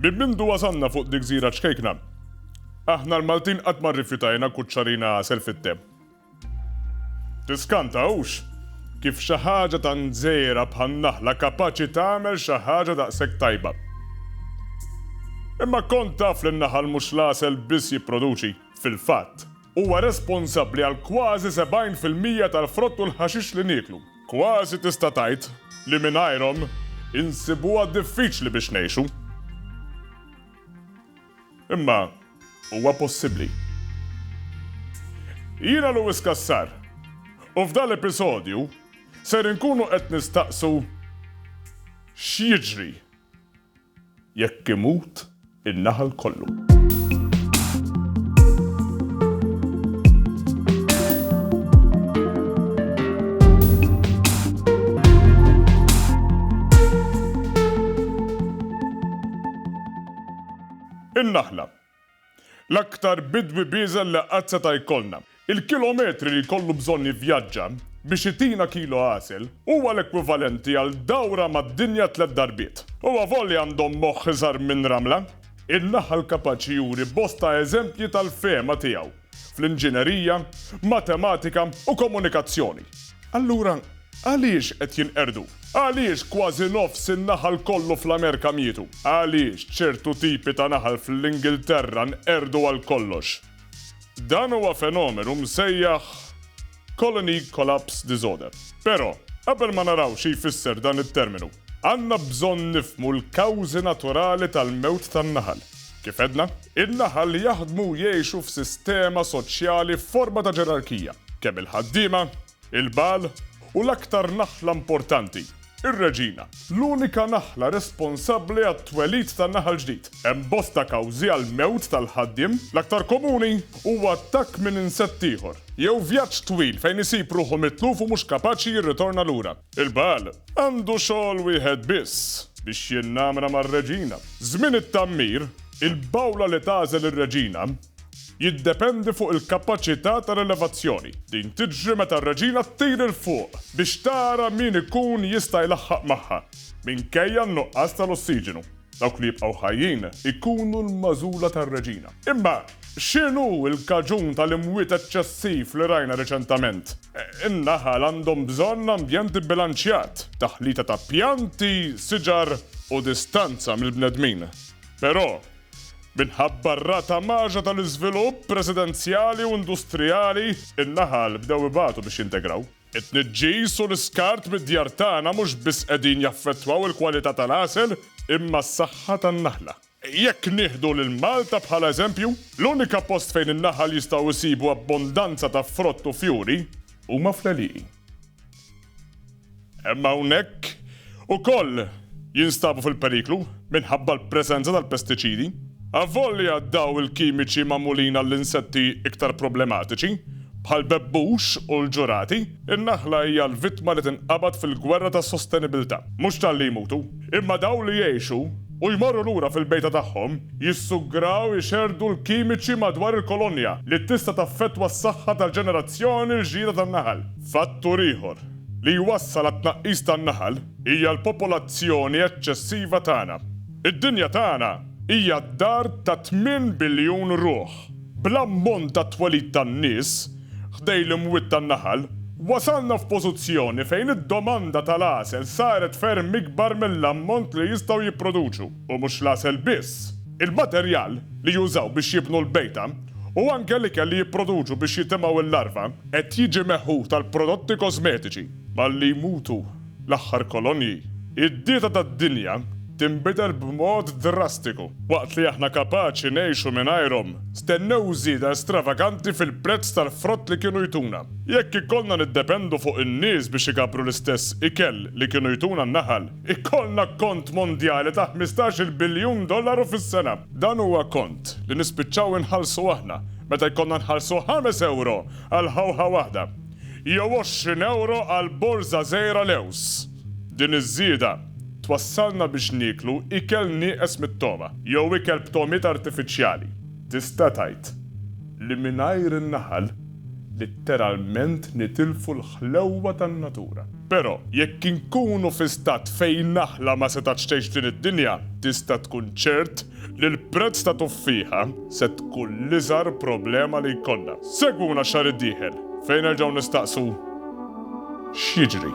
Minn mindu għazanna fuq dik zira ċkejkna, aħna l-Maltin qatt ma rrifjutajna kuċċarina għasel fit-tem. Tiskanta, hux? Kif xi ħaġa tant żgħira bħan-naħla kapaċi tagħmel xi ħaġa daqshekk tajba. Imma kont taf li n-naħal mhux l-għasel biss jipproduċi, fil-fatt, huwa responsabbli għal kważi 70 fil-mija tal-frott u l-ħaxix li nieklu. Kważi tista' tgħid li mingħajrhom insibuha diffiċli biex ngħixu. Imma huwa possibbli. Jiena Louis Cassar u f'dan l-episodju ser inkunu qed nistaqsu x'jiġri jekk imut in-naħal kollu. In-naħla. L-aktar bidwi bieżel li qatt seta' jkollna. Il-kilometri li jkollu bżonn jivvjaġġa biex itina kilo għasel huwa l-ekwivalenti għal dawra mad-dinja tliet darbiet. U avolja għandhom moħħ iżgħar minn ramla. In-naħal kapaċi juri bosta eżempji tal-fehma tiegħu. fl-inġinerija, matematika u komunikazzjoni. Allura, għaliex qed jinqerdu? Għaliex kważi nofs in-naħal kollu fl-Amerka mietu? Għaliex ċertu tipi ta' naħal fl-Ingilterra nqerdu għal kollox? Dan huwa fenomenu msejjaħ Colony Collapse Disorder. Però, qabel ma naraw xi jfisser dan it-terminu, Għandna bżonn nifhmu l-kawżi naturali tal-mewt tan-naħal. Kif għedna, in-naħal jaħdmu u jgħixu f'sistema soċjali f'forma ta' ġerarkija, kemm il-ħaddiema, il-bagħal u l-aktar naħla importanti, ir-reġina, l-unika naħla responsabbli għat-twelid ta' naħal ġdid. Hemm bosta kawżi għall-mewt tal-ħaddiem, l-aktar komuni huwa attakk minn insett ieħor, jew vjaġġ twil fejn isib ruħu mitluf u mhux kapaċi jirritorna lura. Il-Baal għandu xogħol wieħed biss, biex jinnamra mar-reġina. Żmien it-tgħammir, il-bowla li tagħżel ir-reġina jiddependi fuq il-kapaċità ta' rilevazzjoni. Din tiġri meta r-reġina ttir 'il fuq biex tara min ikun jista' jlaħħaq magħha, minkejja n-nuqqas tal-ossiġenu. Dawk li jibqgħu ħajjin ikunu l-magħżula tar-Reġina. Imma x'inhu l-kaġun tal-imwiet eċċessiv li rajna riċentament? In-naħal għandhom bżonn ambjent ibbilanċjat, taħlita ta' pjanti, siġar u distanza mill-bnedmin. Però, minħabba r-rata magħża tal-iżvilupp residenzjali u industrijali, in-naħal bdew ibatu biex jintegraw. It-tniġġis u l-iskart mid-djar tagħna mhux biss qegħdin jaffettwaw il-kwalità tal-għasel imma s-saħħa tan-naħla. Jekk nieħdu lil Malta bħala eżempju, l-unika post fejn in-naħal jistgħu jsibu abbondanza ta' frott u fjuri huma fl-għelieqi. Hemm hawnhekk ukoll jinstabu fil-periklu minħabba l-preżenza tal-pestiċidi. Avolja dawn il-kimiċi magħmulin għall-insetti iktar problematiċi, bħall-bebbux u l-ġurati, in-naħla hija l-vittma li tinqabad fil-gwerra tas-sostenibilità. Mhux talli jmutu, imma dawk li jgħixu u jmorru lura fil-bejta tagħhom jissugraw ixerrdu l-kimiċi madwar il-kolonja li tista' taffettwa s-saħħa tal-ġenerazzjoni l-ġdida tan-naħal. Fattur ieħor li jwassal għat-tnaqqis tan-naħal hija l-popolazzjoni eċċessiva tagħna. Id-dinja tagħna hija d-dar ta' tmien biljun ruħ. Bl-ammont tat-twelid tan-nies ħdejn l-imwiet tan-naħal, wasalna f'pożizzjoni fejn id-domanda tal-għasel saret ferm ikbar mill-ammont li jistgħu jipproduċu, u mhux l-għasel biss, il-materjal li jużaw biex jibnu l-bejta u anke l-ikel li jipproduċu biex jitimgħu l-larva. Qed jiġi meħud għall-prodotti kożmetiċi. Malli jmutu l-aħħar kolonji, id-dieta tad-dinja tinbidel b'mod drastiku. Waqt li aħna kapaċi ngħixu mingħajrhom, stennew żieda stravaganti fil-prezz tal-frott li kienu jtuna. Jekk ikollna niddependu fuq in-nies biex igabbru l-istess ikel li kienu jtuna n-naħal, Ikollna kont mondjali ta' ħmistax-il biljun dollaru fis-sena. Dan huwa kont li nispiċċaw inħallsu aħna meta jkollna nħallsu ħames ewro għal ħawħa waħda jew għoxrin ewro għal borża żgħira lewż. Din iż-żieda twassalna biex nieklu ikel nieqes mit-togħma jew ikel b'togħmiet artifiċjali. Tista' tgħid li mingħajr in-naħal litteralment nitilfu l-ħlewwa tan-natura. Però, jekk inkunu fi stat fejn naħla ma setgħetx tgħix f'din id-dinja, tista' tkun ċert li l-prezz ta' tuffieħa se tkun l-iżgħar problema li jkollna. Segwuna x-xahar id-dieħel fejn nerġgħu nistaqsu x'jiġri.